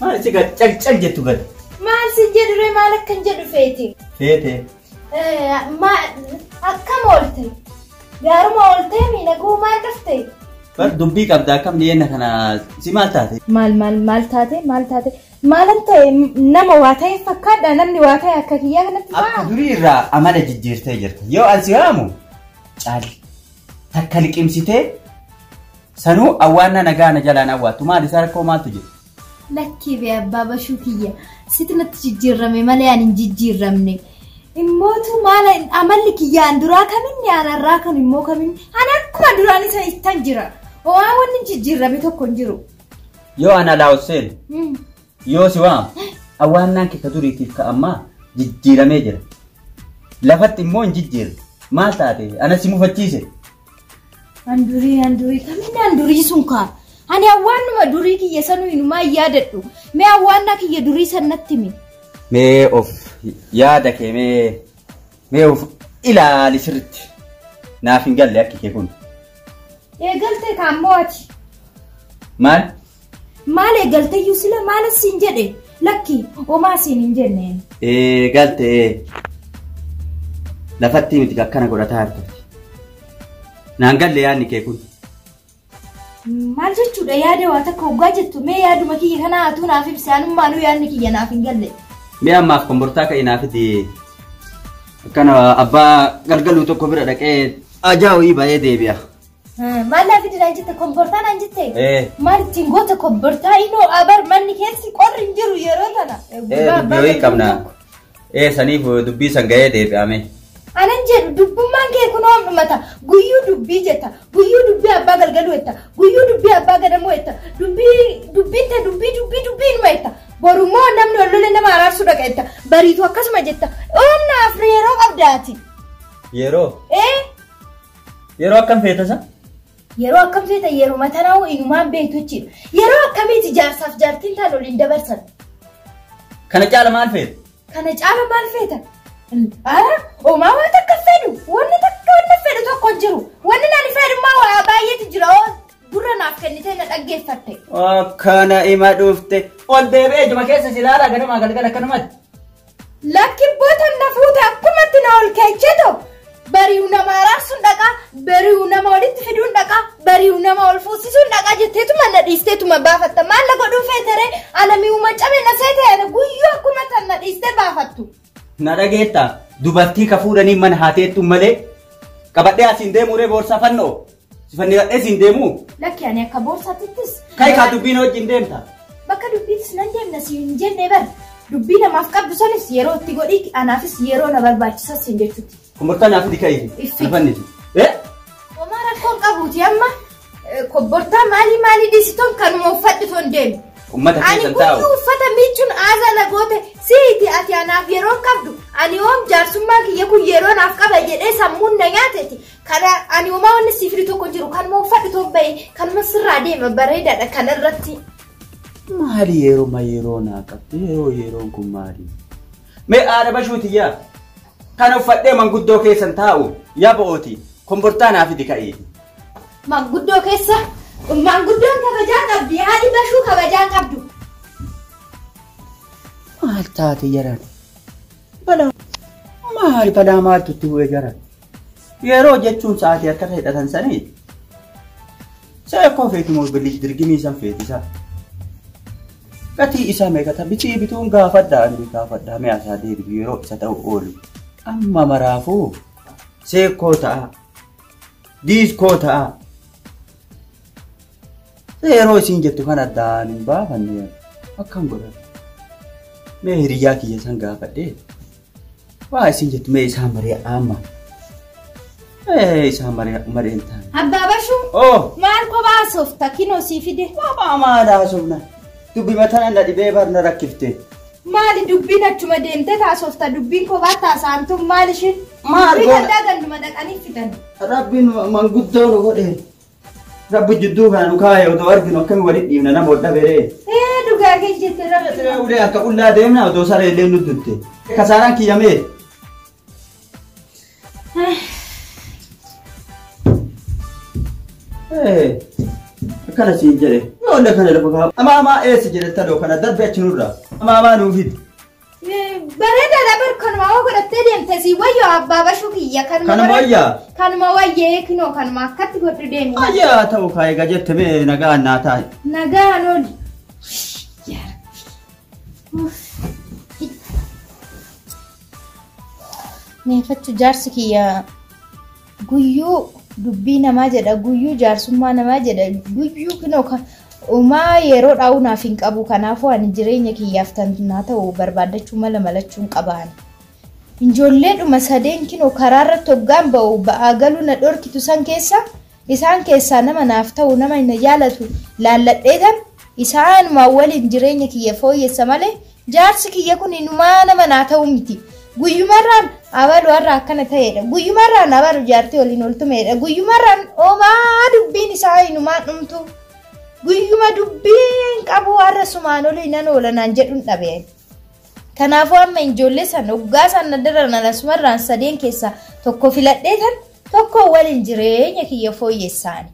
Maal itti gad cal cal jettu gad. Maal si jedhure maal akkan jedhu feeti? Feete. Akkam oolte? Gaaruma ooltee miidhaguu maal dhufte? Bar dubbii qabda akkam dhiyeenya kana si maal taate? Maal maal maal taate maal taate maalan ta'e nama waa ta'e fakkaadha namni waa ta'e akka kiyyaa kanatti Akka ta'a. durii irraa amala jijjiirtee jirta. Yoo an si waamu caal takka liqimsitee Sanuu awwaannaa nagaa na jalaan awwaattu maali isaa rakkoo maaltu jira? Lakkii bee abbaa bashuu kiyya situ natti jijjiirrame malee ani hin jijjiirramne. Immootu maala amalli kiyya an duraa kaminni an har'aa kan immoo kaminni an akkuma duraan isa ittan jira. Waa wanni jijjiirrame tokko hin jiru. Yoo ana laawus seenu Mm. yoo si waamu awwaannaan kee ka duriitiif ka ammaa jijjiiramee jira. Lafatti immoo hin jijjiirre. Maal taate? Ana si mufachiise. An durii an durii kaminni an durii sun kaa. Ani awwaannuma durii kiyya sanuu inumaa hin yaadadhu. Mee awwaannaa kiyya durii san natti himi. Mee of yaada kee mee mee of ilaali sirriitti. Naaf hin galle akki kee kun. Eegalte kaa ammoo ati. Maal? Maal eegalteyyuu sila maal siin jedhe lakki omaa siin hin jenneen. Ee galte ee. Lafattii miti akkana godhataa harka. Naan galle yaadni kee kun. Maal jechuudha yaada waa takka hoggaa jettu mee yaaduma kiyya kanaa atuu naaf ibsi anummaanuu yaadni kiyya naaf hin galle. Mee ammaaf kombortaa ka'e naaf fidi. Akkana abbaa galgaluu tokko bira dhaqee ajaa wayii ba'ee deebi'a. Maal naa fidinaan jette kombortaa naan jette. Ee. Maal ittiin goota kombortaa inoo abar manni keessi qorri hin jiru yeroo tana. Ee dubbii wayii qabna. Ee saniif dubbii san ga'ee deebi'ame. Anan jedhu dubbummaan kee kun oom dhumata guyyuu dubbii jetta guyyuu dubbii abbaa galgaluu jetta guyyuu dubbii abbaa gadamuu jetta dubbii dubbiin ta dubbii dubbii dubbii inuma jetta borummoo namni ol lolee nama araarsuu dhaqa jetta bariitu akkasuma jetta oomna afri yeroo qabdaati. Yeroo. Ee Yeroo akkam feeta san? Yeroo akkam feeta yeroo matanaa inumaan beektu jechuudha. Yeroo akkamiiti jaarsaaf jaartiin taan waliin dabarsan? Kana caala maal feeta? Kana caala maal feeta? Ara homaa waan takka fedhu wanni takka wanni fedhu tokko hin jiru. Wanni nani fedhu immoo waa baay'eetu jira oo gurra naaf kennitee na dhaggeeffatte. Akkana ima dhufte. Ol deebi'ee juma keessa si ilaala ganamaa galgala akkanumatti. Lakki bota na fuute akkumatti na ol keecheto bari'u nama araarsuun dhaqaa bari'u nama walitti fiduun dhaqaa bari'u nama ol fuusisuun dhaqaa jetteetuma na dhiisteetuma baafatta maal na godhuu feeteree ana mi'uma cabe na seete ana guyyuu akkuma tan na dhiistee baafattu. Na dhageetta dubartii ka fuudhanii mana haateettu malee qabadhee asiin deemuuree boorsaa fannoo. Sifannifadhee siin deemuu? Lakki ani akka boorsaatittis. Kai kaa dubbiin wajjin deemta. Bakka dubbiitis nan deemna siin hin jenne bar. Dubbii namaaf qabdu sanis yeroo itti godhiiti anaafis yeroo na barbaachisa siin jechuutti. Kombortaa naaf fidi kai. Iffi. Sifanniti. Eh? Homaa rakkoon qabuuti amma eh, kobbortaa maalii maalii dhiisitoon kanuma uffadhu toon deemu. Ummata Ani keessan taa'u. kutuu uffata miicuun aasaa na goote siiti ati anaaf yeroo qabdu ani oom jaarsummaa kiyya kun yeroo naaf qaba jedhee sammuun na nyaateti Kana ani homaa wanni siif fidu tokko hin jiru kanuma uffadhu too bahi kanuma sirraa deema bareedaadha kana irratti. Maali yeruma yeroo naa qabde yeroo yeroon kun maali? Mee haadha bashuuti yaa kana uffadhee manguddoo keessan taa'u yaa bo'ooti kombortaa naa fidi ka'ii. Manguddoo keessa manguddoon kabajaa qabdi haadhi bashuu kabajaa hin qabdu. Maal taate jaran? Balaa maal balaa maaltu itti bu'e jaran? Yeroo jechuun sa'aatii akka hidhatan sanii seekoo feeti moo bilij dirgimii san feeti isaa. Gatii isaa meeqata bitii bituun gaafadha ani gaafadha mi'a isaa deebitu yeroo isa ta'u oolu. Amma maraafuu seekoo ta'a diiskoo ta'a. Yeroo isin jettu kan addaan hin baafanne akkam godhan. Mee hiriyyaa kiyya san gaafadhee. Waa isin jettu mee isaa maree amma. Ee isaa maree mareen taane. Abbaa Bashuu Oo maal kophaa soofta kinoo sii fide. mama maal haasofna. Dubbi mataan na dhibee bar na rakkifte. Maali dubbiin achuma deemtee taasofta dubbiin kophaa taasaantu maal ishiin. Maal Dubbii goona? gaddaa ganduma dhaqanii fidan. Rabbiin manguddoo nu godhe. Rabbi jidduu kana nu kaa'e odoo arginu akkami walitti dhiibna nama wal dhabe ree. Ee dhugaa kee jette rabbi. Ulee akka qullaa deemna odoo saree illee nu dutte. Kasaaraan kiyyamee. Ee, Akkana siin jedhe. Yoo illee kana lafa kaa'u. Amaa amaa eessa jedhe taloo kana darbe achi nurra. Amaa amaa nuuf hidhi. Bareedaadha bar kanuma hoo godhattee deemte si wayyo abbaa bashuu kiyya kanuma Kanuma godhadhu. wayyaa? Kanuma wayyee kinoo kanuma akkatti godhu deemi. Ayyaa ta'u kaa egaa jette mee nagaa naa taa'e. Nagaan oli. Meefattu jaarsi kiyya Guyyuu dubbii namaa jedha guyyuu jaarsummaa namaa jedha guyyuu kinoo ka umaa yeroo dhaa'uu naaf hin qabu kanaafuu ani jireenya kiyyaaf tan naa ta'u barbaaddachuu mala malachuun qabaan. Injoolleedhuma sadeen kinoo karaa irratti hoggaan ba'u ba'aa galuu na dhorkitu san keessa isaan keessaa nama naaf ta'u nama na jaalatu laalladheetan Isaanumaan waliin jireenya kiyya fooyyessa malee jaarsi kiyya kun inumaa nama naa ta'u miti. Guyyumarraan abalu har'a akkana ta'eedha. Guyyumarraan abalu jaartii waliin ol tumeedha. Guyyumarraan omaa dubbiin isaa inumaa dhumtu. Guyyuma dubbiin qabu har'a sumaan olii nan oola naan jedhun dhabe. Kanaafuu amma injoollee san oggaa san nadaran an asumarraan sadeen keessa tokko filadhee tan tokko walin jireenya kiyya fooyyessaani.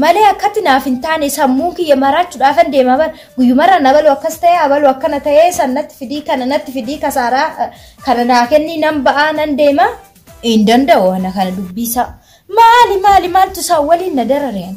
Malee akkatti naaf hin taane sammuun kiyya maraachuudhaafan deema bar guyyumarraan abaluu akkas ta'ee abaluu akkana ta'ee san natti fidii kana natti fidii kasaaraa eh, kana naa kennii nan ba'aa nan deema hin danda'u ana kana dubbiisaa. Maali maali maaltu isaan waliin na darareen?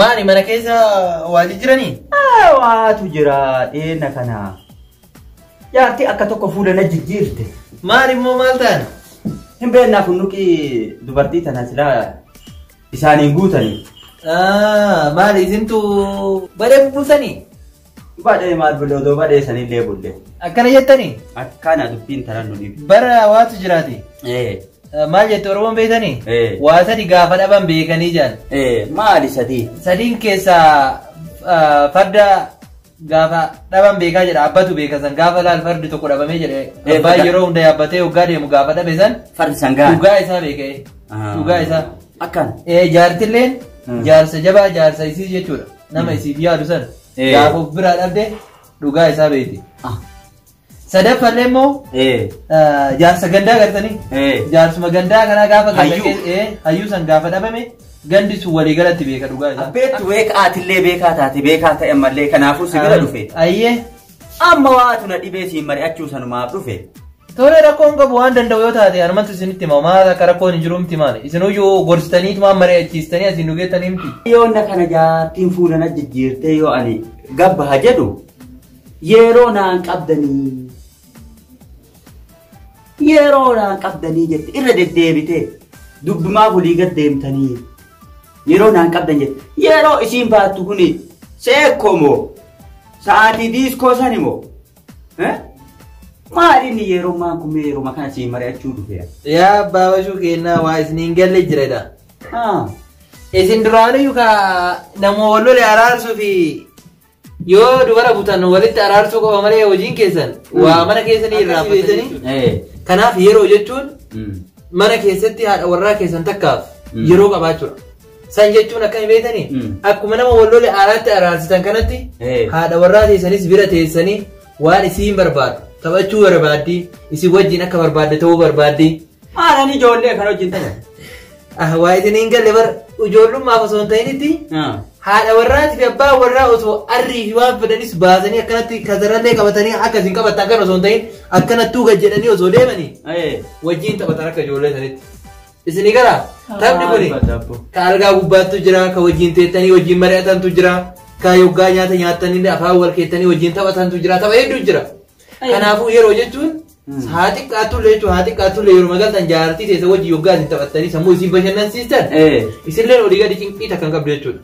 Maali mana keessa waa jijjiranii? Waatu jira dheena kana. Jaartii akka tokko fuula na jijjiirte. Maali immoo maal ta'an? Hin beeknaa kun nuqii dubartii tana silaa isaaniin guutanii. Maali isintu badee bubbultanii? Badhee maal bulle odoo badhee sanillee bulle. Akkana jettanii? Akkana dubbiin taran nu dhibu. Bara waatu jiraate. Ee. Maal jette Oromoon beektanii? Ee. Waa sadi gaafa dhaban beekanii jaan. Ee maali sadii? Sadiin keessaa ah, farda gaafa dhaban beekaa jedha abbatu beeka san gaafa laal fardi tokko dhabamee jedhe Ee, abbaan farda- yeroo hunda yaabbatee hoggaa deemu gaafa dhabe san Fardi sangaan. dhugaa isaa beekee Ah. dhugaa isaa Akkana. Ee, jaartilleen Mm. jaarsa jabaa jaarsa isii jechuudha. nama isiif yaadu san Eh. gaafa of biraa dhabde dhugaa isaa beekti. Ah. Sadaffallee immoo Eh. ah, jaarsa gandaa gartanii Eh. jaarsuma gandaa kanaa gaafa ganda Hayyuu. keessa- eh, hayyuu san gaafa dhabame gandi sun walii galatti beeka dhugaa isaa. Beektu beekaa atillee beekaa taate beekaa ta'e mallee kanaafuu si bira dhufe. Ayyee Amma waatu na dhibee siin mari'achuu sanumaaf dhufe. Tole rakkoo hin qabu waan danda'u yoo taate anumatu isinitti hima maal akka rakkoon hin jiru miti maal isinuyyuu gorsitanii tumaan mari'achiistanii asiin nu geettanii miti. Yoonna kana jaartiin fuula na jijjiirtee yoo ani gabba ha jedhu yeroo naan qabdanii yeroo naan qabdanii jette irra deddeebitee dubbimaaf olii gad deemtanii Yeroo naan qabdan jette. Yeroo isiin baattu kuni seekkoo moo? Sa'aatii diiskoo sani moo? Eh? Maal inni yeroo maan kun mee yeroo kana siin mari'achuu dhufeera? Yaa abbaa bashuu kennaa waa isiniin galle jiredha. Ah. Isin duraaniyyuu ka nama wal lole araarsuu fi Yoo dubara butan walitti araarsuu qofa malee hojiin keessan waa mana keessanii irraa Akkasii beektanii? beektanii. Eh. Kanaaf yeroo jechuun Mm. mana keessatti haadha warraa keessan takkaaf Mm. yeroo qabaachuudha. San jechuun akkami beektanii? Mm. Akkuma nama walloole aaraatti araarsitan kanatti Eh. haadha warraa teessanis bira teessanii waan isiin barbaadu taphachuu barbaaddi isin wajjin akka barbaadde ta'uu barbaaddi Maalan ijoollee kan wajjin taja. Ah, waa isin hin galle bar ijoollummaaf osoo hin ta'initti haadha warraati fi abbaa warraa osoo arrii fi waan fedhanis baasanii akkanatti kasarallee qabatanii akka isin qabatta akkan osoo hin ta'in akkanattuu gad jedhanii osoo deemanii wajjin taphatan akka ijoollee sanitti. Isinii gara taphni kuni ka algaa gubbaattu jira ka wajjin teettanii wajjin mari'atantu jira ka yoggaa nyaata nyaattanii afaan wal keettanii wajjin taphatantu jira tapha hedduu jira. Kanaafuu yeroo jechuun haa xiqqaatullee jechuun haa xiqqaatullee yeroo magaaltan jaartii teessa wajjin yoggaa isin taphattanii sammuu isin bashannansiistan Eh. isinleen olii gadi cinqii takka hin qabdu jechuudha.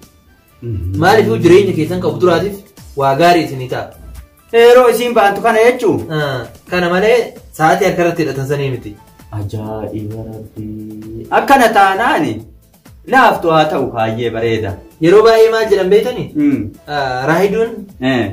Maaliifuu jireenya keessan qabu duraatiif waa gaarii isinii ta'a. Yeroo isiin baantu kana jechuun. Ah, Kana malee sa'aatii harka irratti hidhatan sanii miti. Ajaa'iba rabbii. Akkana taanaani laaftu haa ta'u baay'ee bareeda. Yeroo baay'ee maal jedhan beektanii? Mm. Ah, Raahiduun Eh.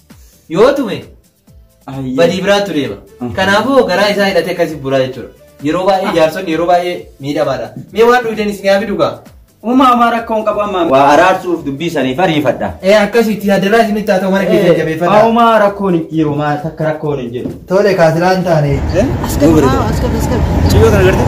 Yoo tume Ayyee. badii biraattu deema. Mhm. Kanaafuu garaa isaa hidhatee akkasii buraa jechuudha. Yeroo baay'ee jaarsonni yeroo baay'ee miidhamaadha. Mee waan dhugdan isin haa fidu gaa. Uumaa amaa rakkoo hin qabu ammaa. Waa araarsuuf dubbii saniif ariifadha. Ee akkasitti hadaraa isinitti haa ta'u mana keessa jabeeffadha. Uumaa rakkoon hin jiru maa takka rakkoon hin jiru. Tole kaasilaan taane. As gad, as gad, as gad. Ciyyoo kana gartee?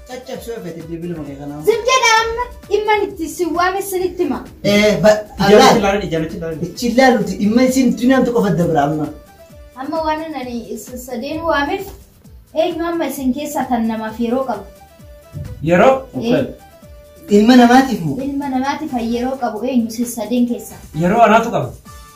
Caccabsuu feete bilbiluma kee kanaa. Zim jedha amma dhimman itti si waame sinitti hima. Eh, ba, Ijamatti Allah. ilaalani, ijamatti ilaalani. Ichi ilaaluti dhimma isin dunyaan qofa dabra amma. Amma waan ani isin sadeen waameef eenyu amma isin keessaa kan namaaf yeroo qabu. Yeroo? Eh, Ilma namaatiif moo? Ilma namaatiif kan yeroo qabu eenyu isin sadeen keessaa. Yeroo anaatu qaba.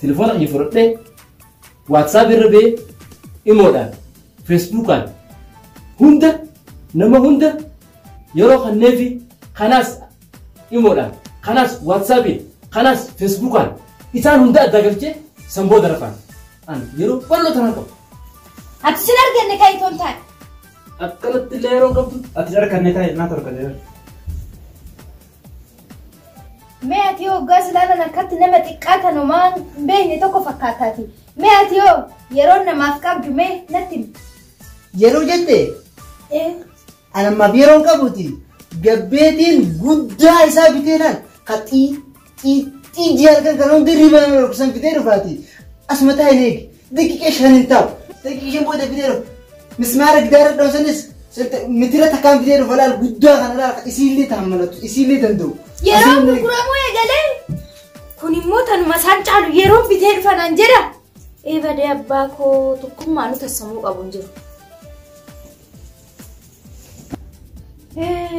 Telefoona kiyya fudhadhee WhatsApp irra bee imoodhaan Facebookaan hunda nama hunda yeroo kanneefi kanaas imoodhaan kanaas WhatsAppiin kanaas Facebookaan isaan hunda addaa galchee san booda rafaan. Ani yeroo bal'oo tanaan qabu. Ati sin arganne kan itoon taate. Akkanatti illee yeroo qabdu ati arganne taa'e naa torganne. Mee ati yoo hoggaa silaalan akkatti nama xiqqaa tan homaa hin beekne tokko fakkaataati. Mee ati yoo yeroo namaaf qabdu mee natti himi. Yeroo jette Ee, ani ammaaf yeroo hin qabuti gabbeetiin guddaa isaa bitee laal ka xii xii xii jee halkan kan hundi riba nama dhorkisan fidee dhufaati asuma taa'in eegi Daqiiqaa shan hin taa'u. Daqiiqaa shan booda fidee dhufa. Mismaara gidaara dhoofsanis mitira takkaan fidee dhufa laal guddaa kana laal isiillee taammalatu isiillee danda'u. Yeroo gurguramuu eegalee kun immoo tanuma isaan caalu yeroo bitee dhufanan jedha. Eebadee abbaa koo tokkummaa nu tassamuu qabu hin jiru.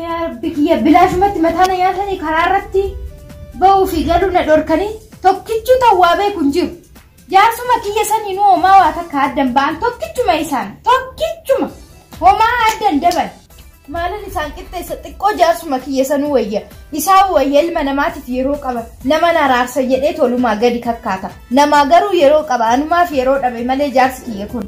Yaa rabbi kiyya bilaashumatti mataa na nyaatanii karaa irratti ba'uu fi galuu na dhorkanii tokkichuu ta'uu waa beeku hin jiru. Jaarsuma kiyya saniinuu homaa waa takka addan ba'an tokkichuma isaan tokkichuma homaa addan daban. Maalan isaan qixxeessa xiqqoo jaarsuma kiyya sanuu wayya isaa wayya ilma namaatiif yeroo qaba nama naraarsa jedhee tolumaa gadi kakkaata namaa garuu yeroo qaba anumaaf yeroo dhabe malee jaarsi kiyya kun